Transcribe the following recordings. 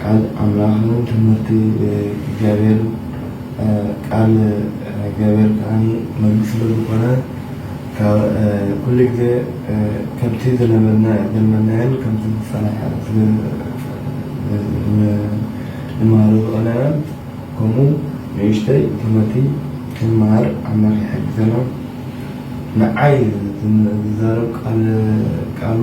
ቃል ኣምላኽን ትምህርቲ እግዚኣብሔርን ቃል እግዚኣብሔር ከዓኒ መግቢ ስለ ዝኾነ ኩሉ ግዜ ከምቲ ዝነበርናዮ ዘለናዮን ከምቲ ዝጸንሐ ንመሃሮ ዝቐነናን ከምኡ ንእሽተይ ትምህርቲ ክንመሃር ኣምላኽ ይሓግዘና። ንዓይ ዝዛረብ ቃሉ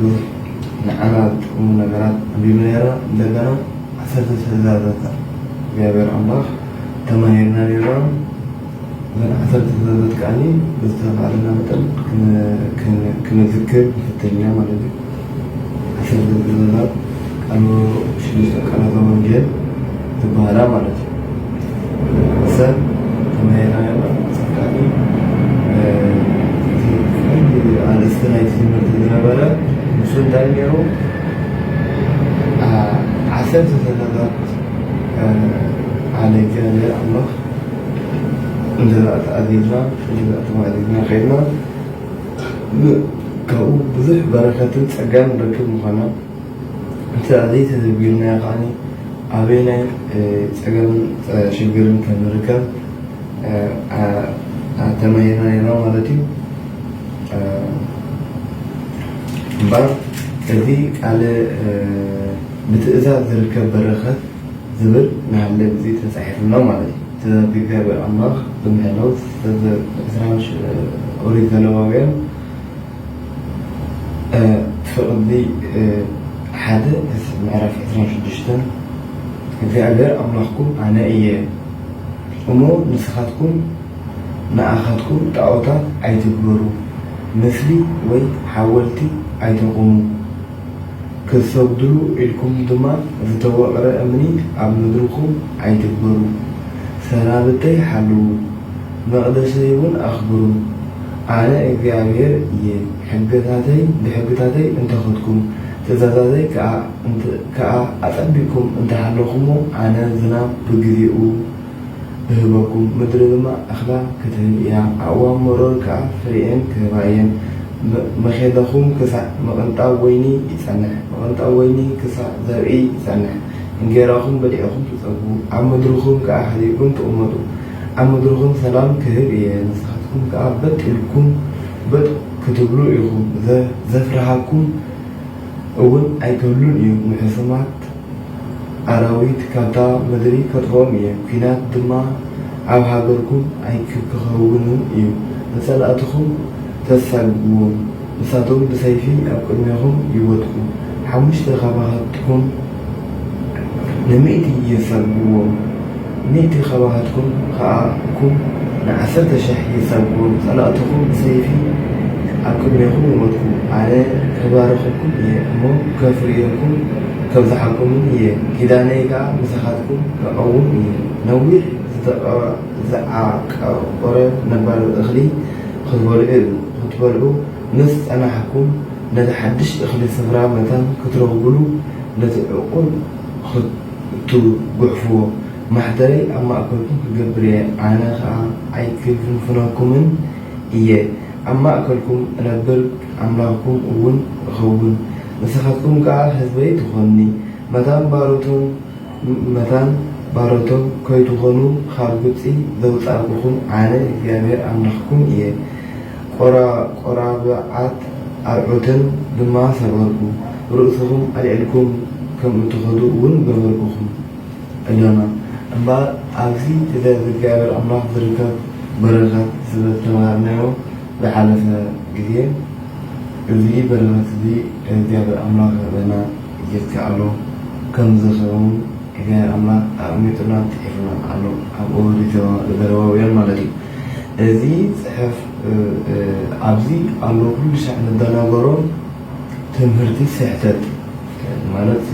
ብዙሕ ንዓና ዝጠቅሙ ነገራት ኣንቢብና ነይርና እንደገና ዓሰርተ ትእዛዛት እግዚኣብሔር ኣምላኽ ተማሂርና ነይርና እዘን ዓሰርተ ትእዛዛት ከዓኒ ብዝተባሃለና መጠን ክንዝክር ንፍተኛ ማለት እዩ ዓሰርተ ትእዛዛት ቃሉ ሽዱሽተ ቃላተ ወንጌል ዝበሃላ ማለት እዩ ሰብ ተመያይናዮ ጸቃጢ ኣርእስቲ ናይቲ ትምህርቲ ዝነበረ ንሱ እንታይ ነይሩ ዓሰርተ ሰላታት ዓለ እግዚኣብሔር ኣምላኽ እንጀራ ተኣዚዝና እንጀራ ተማእዚዝና ከይድና ካብኡ ብዙሕ በረከትን ጸጋን ንረክብ ምዃና እንተ ዘይተዘቢርናዮ ከኣ ኣበየናይ ጸገምን ሽግርን ከም ንርከብ ተማሂርና ኔርና ማለት እዩ። እምበኣር እዚ ቃለ ብትእዛዝ ዝርከብ በረኸት ዝብል ንሃለ ግዜ ተጻሒፉ ኣሎ ማለት እዩ። ትእዛዝ እግዚኣብሔር ኣምላኽ ብምሕላው ትእዛዝ ዕስራ ኦሪት ዘሌዋውያን ፍቕዲ ሓደ ምዕራፍ ዕስራን ሽዱሽተን እግዚኣብሔር ኣምላኽኩም ኣነ እየ እሞ ንስኻትኩም ንኣኻትኩም ጣዖታት ኣይትግበሩ ምስሊ ወይ ሓወልቲ ኣይተቑሙ ክትሰግድሉ ኢልኩም ድማ ዝተወቕረ እምኒ ኣብ ምድርኹም ኣይትግበሩ ሰናብተይ ሓልዉ መቕደሰይ እውን ኣኽብሩ። ኣነ እግዚኣብሄር እየ፣ ሕግታተይ ብሕግታተይ እንተ ኸድኩም፣ ትእዛዛተይ ከኣ እንተ ከኣ ኣጸቢቕኩም እንተ ሃለኹሞ፣ ኣነ ዝናብ ብግዜኡ እህበኩም፣ ምድሪ ድማ እኽላ ክትህብ እያ፣ ኣእዋም መሮር ከኣ ፍሬኤን ክህባ እየን። መ መዄለኹም ክሳዕ ምቕንጣብ ወይኒ ይጸንሕ፣ ምቕንጣብ ወይኒ ክሳዕ ዘርኢ ይጸንሕ፣ እንጌራኹም በሊዕኹም ትጸግቡ፣ ኣብ ምድርኹም ከኣ ሃዲእኩም ትቕመጡ። ኣብ መድረኹም ሰላም ክህብ እየ ንስኻትኩም ከኣ በጥ ኢልኩም በጥ ክትብሉ ኢኹም ዘፍርሃኩም እውን ኣይክህሉን እዩ ንሕሱማት ኣራዊት ካብታ ምድሪ ከጥፍኦም እየ ኲናት ድማ ኣብ ሃገርኩም ኣይክከውንን እዩ ንጸላእትኹም ተሳግግዎም ንሳቶም ብሰይፊ ኣብ ቅድሜኹም ይወድቁ ሓሙሽተ ካባኻትኩም ንሚእቲ ይጸግብዎም ሚእቲ ካባኻትኩም ከኣ እኩም ንዓሰርተ ሽሕ ይጸግብዎም ጸላእትኹም ብሰይፊ ኣብ ቅድሜኹም ይወድቁ ኣነ ክባርኸኩም እየ እሞ ከፍርየኩም ከብዝሓኩምን እየ ኪዳነይ ከኣ ምሳኻትኩም ክቐውም እየ ነዊሕ ዝተዓቆረ ነባሪ እኽሊ ክትበልዑ ክትበልዑ ምስ ጸናሕኩም ነቲ ሓድሽ እኽሊ ስፍራ መታን ክትረኽቡሉ ነቲ ዕቑር ኽትጉሕፍዎ ማሕደረይ ኣብ ማእከልኩም ክገብር እየ፣ ኣነ ኸኣ ኣይክፍንፍነኩምን እየ፣ ኣብ ማእከልኩም እነብር ኣምላኽኩም እውን እኸውን፣ ንስኻትኩም ከኣ ህዝበይ ትዀኑኒ። መታን ባሮቶም መታን ባሮቶም ከይትኾኑ ኻብ ግብጺ ዘውጻእኩኹም ኣነ እግዚኣብሄር ኣምላኽኩም እየ። ቈራብዓት ኣርዑትን ድማ ሰበርኩ፣ ርእስኹም ኣልዒልኩም ከም እትኸዱ እውን ገበርኩኹም። እሎና። እምበኣር ኣብዚ ብዘይ እግዚኣብሄር ኣምላኽ ዝርከብ በረኸት ስለዝተማሃርናዮ ዝሓለፈ ግዜ፣ እዚ በረኸት እዚ እግዚኣብሄር ኣምላኽ ይሃበና። ይከኣሎ ከም ዘሰውን እገ ኣምላኽ ኣቕሚጡላን ጽሒፉላን ኣሎ ኣብ ኦሪትዋ ዘደለዋውያን ማለት እዩ እዚ ጽሕፍ ኣብዚ ኣሎ ኩሉ ሻዕ ንደናገሮ ትምህርቲ ስሕተት ማለት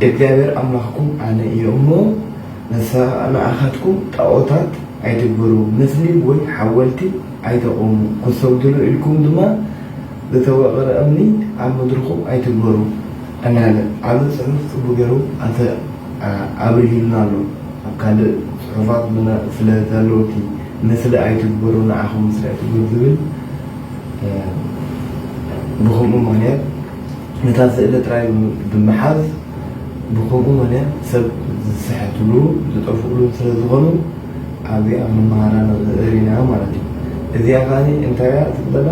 እግዚኣብሔር ኣምላኽኩም ኣነ እየ እሞ ንኣኻትኩም ጣዖታት ኣይትግበሩ ምስሊ ወይ ሓወልቲ ኣይተቑሙ ክሰግድሉ ኢልኩም ድማ ዝተወቐረ እምኒ ኣብ ምድርኹም ኣይትግበሩ እናለ ዓቢ ጽሑፍ ጽቡ ገሩ ኣተ ኣብርሂሉና ኣሎ ኣብ ካልእ ጽሑፋት ብነ ስለ ዛለውቲ ንስለ ኣይትግበሩ ንዓኹም ንስለ ኣይትግበሩ ዝብል ብኸምኡ ምክንያት ነታ ስእሊ ጥራይ ብምሓዝ ብኸምኡ ምነ ሰብ ዝስሕትሉ ዝጠፍኡሉን ስለ ዝኾኑ ኣዚኣ መማሃራ ንርኢ ኢና ማለት እዩ። እዚኣ ከኣ እንታይ እያ ትብለና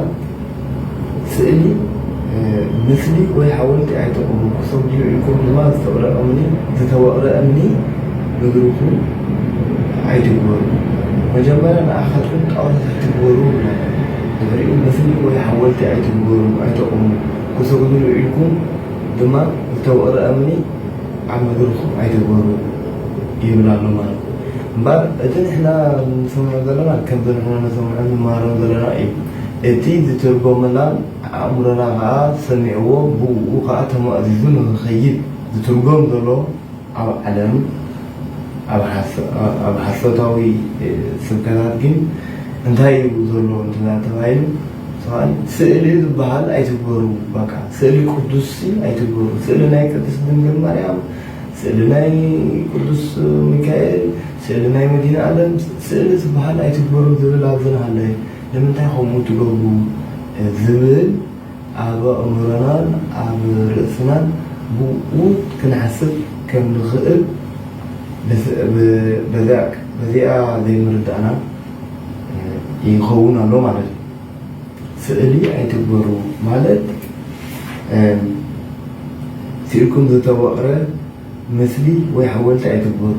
ስእሊ ምስሊ ወይ ሓወልቲ ኣይጠቕሙ ክሰብ ድዩ ኢልኩም ድማ ዝተቕረ እምኒ ዝተወቕረ እምኒ ምግርኩም ኣይትግበሩ መጀመርያ ንኣኻትኩም ጣዖታት ኣይትግበሩ ብላ ንሪኡ ምስሊ ወይ ሓወልቲ ኣይትግበሩ ኣይጠቕሙ ክትብሉ ዊዒልኩም ድማ ዝተወቕረ እምኒ ኣብ ምድርኹም ኣይትግበሩ ይብል ኣሎ ማለት እምበኣር እቲ ንሕና ንሰምዖ ዘለና ከምቲ ንሕና ንሰምዖን ንመሃሮን ዘለና እዩ እቲ ዝትርጎመላን ኣእምሮና ኸኣ ሰሚዕዎ ብእኡ ኸኣ ተማእዚዙ ንኽኸይድ ዝትርጎም ዘሎ ኣብ ዓለም ኣብ ሓሶታዊ ስብከታት ግን እንታይ እዩ ዘሎ እንተተባሂሉ ሰብኣይ ስእሊ ዝበሃል ኣይትግበሩ በቃ ስእሊ ቅዱስ ኣይትግበሩ ስእሊ ናይ ቅድስት ድንግል ማርያም ስእሊ ናይ ቅዱስ ሚካኤል ስእሊ ናይ መዲና ዓለም ስእሊ ዝበሃል ኣይትግበሩ ዝብል ኣብዝናሃለየ ንምንታይ ከምኡ ትገብሩ ዝብል ኣብ ኣእምሮናን ኣብ ርእስናን ብኡ ክንሓስብ ከም ንኽእል በዚኣ ዘይምርዳእና ይኸውን ኣሎ ማለት እዩ። ስእሊ ኣይትግበሩ ማለት ስኢልኩም ዝተወቕረ ምስሊ ወይ ሓወልቲ ኣይትግበሩ፣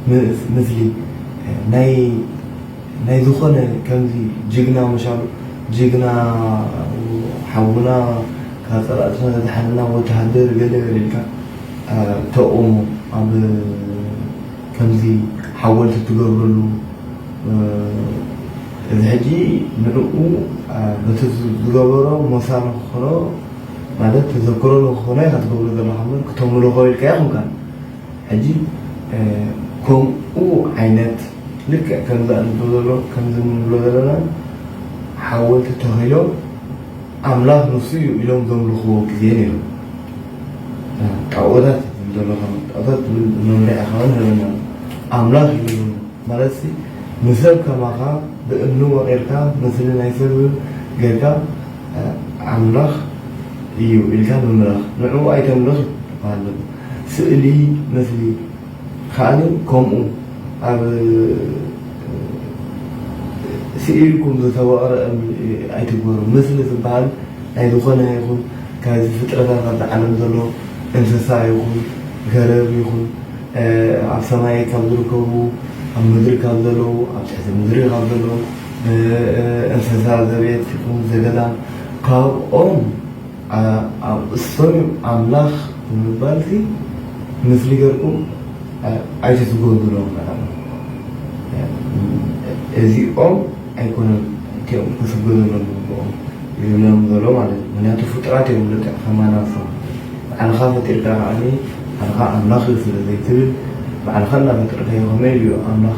ምስ ምስሊ ናይ ናይ ዝኾነ ከምዚ ጅግና መሻሉ ጅግና ሓውና ካብ ጸላእትና ዘድሓነና ወተሃደር ገለ ገለ ኢልካ ተቕውሞ ኣብ ከምዚ ሓወልቲ ትገብረሉ እዚ ሕጂ ንዕኡ በቲ ዝገበሮ ሞሳ ንክኾኖ ማለት ተዘክሮ ንክኾኖ ኢኻ ትገብሮ ዘለኻ እምበር ክተምልኾ ኢልካ ኣይኮንካን። ሕጂ ከምኡ ዓይነት ልክዕ ከምዚ ኣንቶ ዘሎ ከምዚ ንብሎ ዘለና ሓወልቲ ተኺሎም ኣምላኽ ንሱ እዩ ኢሎም ዘምልኽዎ ግዜ ነይሩ። ጣኦታት ትብል ዘለኻ ጣኦታት ትብል መምርሒ ከኣ ንህበና ኣምላኽ እዩ ማለትሲ ንሰብ ከማኻ ብእምኒ ወቒርካ ምስሊ ናይ ሰብ ጌርካ ኣምላኽ እዩ ኢልካ ምምላኽ ንዕኡ ኣይተምልኽ ይበሃል ዘሎ። ስእሊ ምስሊ ከኣኒ ከምኡ ኣብ ስኢልኩም ዝተወቕረ እምኒ ኣይትግበሩ። ምስሊ ዝበሃል ናይ ዝኾነ ይኹን ካብዚ ፍጥረታት ኣብዚ ዓለም ዘሎ እንስሳ ይኹን ገረብ ይኹን ኣብ ሰማይ ካብ ዝርከቡ ኣብ ምድሪ ካብ ዘለዉ ኣብ ትሕቲ ምድሪ ካብ ዘለዉ እንስሳ ዘቤት ይኹን ዘገዳም ካብኦም ኣእሰሩ ኣምላኽ ብምባልሲ ምስሊ ገርኩም ኣይትትጎብሩ ምናምን እዚኦም ኣይኮነን እቲኦም ክስገደሎም ዝግብኦም ይብሎም ዘሎ ማለት እዩ ምክንያቱ ፍጡራት እዮም ልክዕ ከማና ንሶም ባዕልኻ ፈጢርካ ከዓኒ ባዕልኻ ኣምላኽ እዩ ስለ ዘይትብል ባዕልኻ እናፈጠርካዮ ከመይ ኢሉ እዩ ኣምላኽ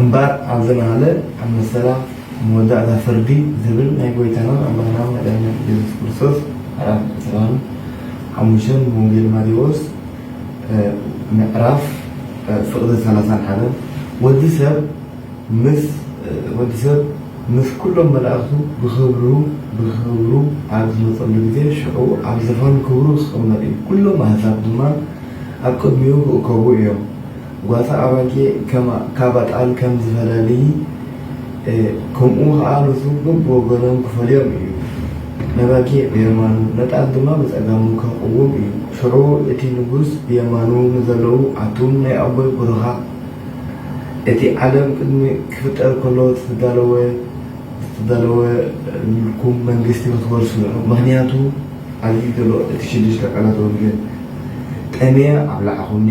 እምበር ኣብዚ ናለ ኣብ መሰላ መወዳእታ ፍርዲ ዝብል ናይ ጎይታናን ኣምላኽናን መድኃኒናን ኢየሱስ ክርስቶስ ምዕራፍ ዕስራን ሓሙሽተን ብወንጌል ማቴዎስ ምዕራፍ ፍቕዲ ሰላሳን ሓደን ወዲ ሰብ ምስ ወዲ ሰብ ምስ ኩሎም መላእኽቱ ብኽብሩ ብኽብሩ ኣብ ዝመጸሉ ግዜ ሽዑ ኣብ ዝፋን ክብሩ ክቕመጥ እዩ፣ ኩሎም ኣሕዛብ ድማ ኣብ ቅድሚኡ ክእከቡ እዮም። ጓሳ ኣባጌ ከማ ካባ ጣል ከም ዝፈላልዪ ከምኡ ኸኣ ንሱ በብወገኖም ክፈልዮም እዩ። ነባጌ ብየማኑ ነጣል ድማ ብጸጋሙ ከቕውም እዩ። ሽዑ እቲ ንጉስ ብየማኑ ንዘለዉ ኣቱም ናይ ኣቦይ ቡሩኻት እቲ ዓለም ቅድሚ ክፍጠር ከሎ ዝተዳለወ ዝተዳለወልኩም መንግስቲ ክትወርሱ ኢኹም ምኽንያቱ ኣብዚ ዘሎ እቲ ሽዱሽተ ቃላት ወንጌል ጠምየ ኣብላዕኹምኒ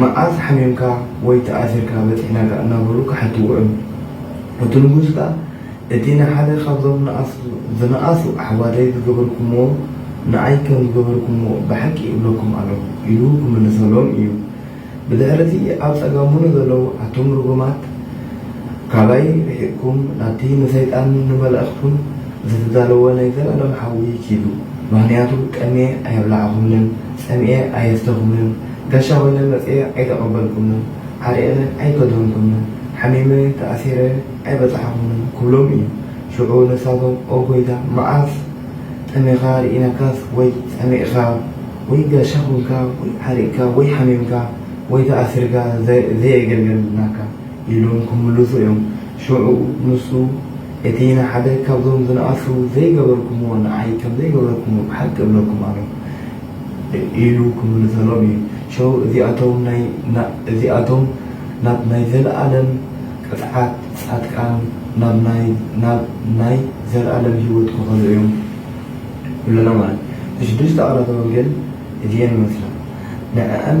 መዓዝ ሓሚምካ ወይ ተኣሲርካ በጺሕናካ እናበሉ ክሓትዎ እዮም። እቲ ንጉስ ከኣ እቲ ንሓደ ካብዞም ንኣስ ዝነኣሱ ኣሕዋተይ ዝገበርኩምዎ ንኣይ ከም ዝገበርኩምዎ ብሓቂ እብለኩም ኣለኹ ኢሉ ክምልሰሎም እዩ። ብድሕሪ እቲ ኣብ ጸጋሙ ንዘለዉ ኣቱም ርጉማት ካባይ ርሒቕኩም ናብቲ ንሰይጣንን ንመላእኽቱን ዘተዳለወ ናይ ዘላለም ሓዊ ኪዱ ምኽንያቱ ቀንየ ኣየብላዕኹምንን ሰሚዔ ኣየፍተኹምን፣ ጋሻ ኾይነ መጺኤ ኣይተቐበልኩምን፣ ዓሪቕነ ኣይከደንኩምን፣ ሓሚመ ተኣሲረ ኣይበጻሕኹምን ክብሎም እዩ። ሽዑ ንሳቶም ኦ ጐይታ መዓስ ጠሚኻ ርኢናካስ ወይ ጸሚእካ ወይ ጋሻ ኹንካ ወይ ዓሪቕካ ወይ ሓሚምካ ወይ ተኣሲርካ ዘየገልገልናካ ኢሎም ክምልሱ እዮም። ሽዑ ንሱ እቲ ንሓደ ካብዞም ዝነኣሱ ዘይገበርኩምዎ ንዓይ ከምዘይገበርኩምዎ ብሓቂ እብለኩም ኣሎኹ። ኢሉ ክምልሰሎም እዩ። ሸው እዚኣቶም ናብ ናይ ዘለኣለም ቅጽዓት፣ ጻድቃን ናብ ናይ ዘለኣለም ህይወት ክኸዱ እዮም ይብለና ማለት እዩ። እዚ ሽዱሽተ ቃላተ ወንጌል እዚኤን ይመስላ። ንዐኣን።